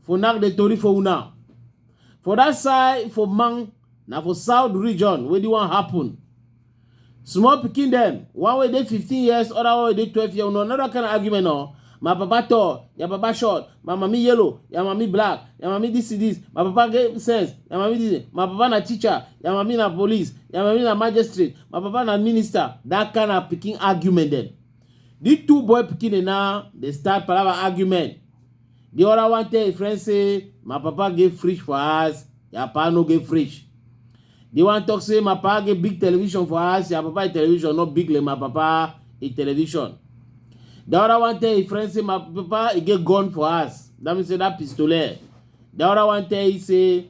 for now the tori for una for that side for man na for south region wey di wan happen small pikin dem one wey dey 15 years other one wey dey 12 years no another kind of argument o my papa tall your papa short my mami yellow your mami black your mami this is this my papa get sense your mami this my papa na teacher your mami na police your mami na magistrate my papa na minister that kind of pikin argument dem the two boy pikin dem now dey start palava argument the other one tell him friend say my papa get fridge for house your papa no get fridge the one talk say my papa get big television for house your papa him television no big like my papa him television the other one tell him friend say my papa he get gun for house that mean say that pistolet the other one tell him say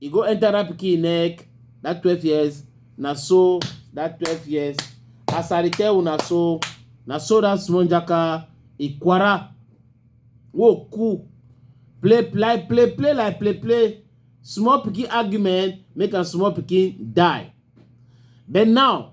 e go enter that pikin neck that twelve years na so that twelve years as i dey tell una so na so that small jaka ikwara wo cool play play play play like play play small pikin argument make am small pikin die but now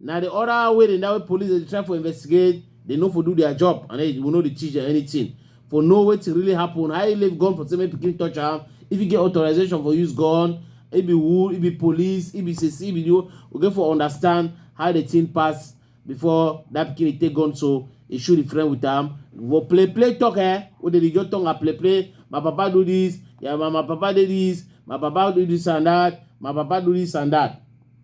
na the other way dem that way police dey try for investigate they no for do their job and they will no dey teach them anything for know wetin really happen how you leave gun for say make pikin touch am if you get authorization for use gun e be who e be police e be sese e be the whole we get for understand how the thing pass before that pikin dey take gun so e shoot the friend with am for play play talk eh wey dey dey just tongue and play play my papa do this yeah, my, my papa dey this my papa do this and that my papa do this and that